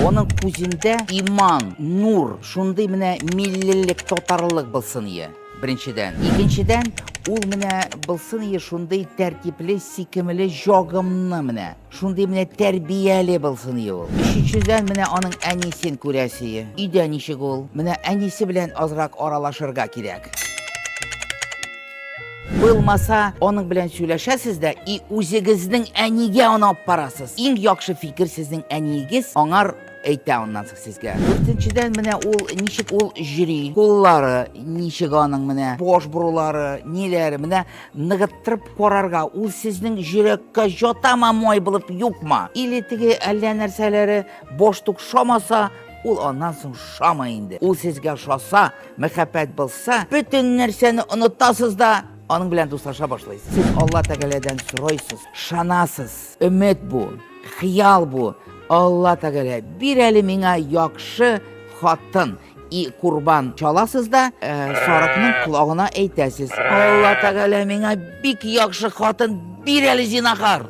Оның күзендә иман, нур, шундый менә миллилек, татарлык булсын ие. Беренчедән. Икенчедән, ул менә булсын ие шундый тәртипле, сикемле, җагымны менә. Шундый менә тәрбияле булсын ие ул. Өченчедән, менә аның әнисен күрәсе ие. Өйдә ничек ул? Менә әнисе белән азрак аралашырга кирәк. Булмаса, аның белән сөйләшәсез дә и үзегезнең әнигә аны алып барасыз. Иң яхшы фикер сезнең әниегез аңар әйтә аннан соң сезгә дүртенчедән менә ул ничек ул җөри куллары ничек аның менә баш борулары ниләре менә ныгыттырып карарга ул сезнең йөрәккә жатама май булып юкма или теге әллә нәрсәләре баш тукшамаса ул аннан соң шама инде ул сезгә шаса Мәхәббәт булса, бөтен нәрсәне онытасыз да, аның белән дуслаша башлыйсыз. Сез Алла Тәгаләдән сорыйсыз, шанасыз. Өмет бу, хыял бу. Алла Тәгалә, бир әле миңа яхшы хатын. И курбан чаласыз да, э, сарыкның колагына әйтәсез. Алла Тәгалә миңа бик яхшы хатын, бир әле зинахар.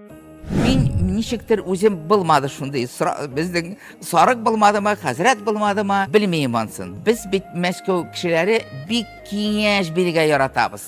Мин ничектер үзем булмады шундый безнең сарык булмадымы, хәзрәт булмадымы, белмим ансын. Без бит Мәскәү кешеләре бик киңәш бирергә яратабыз.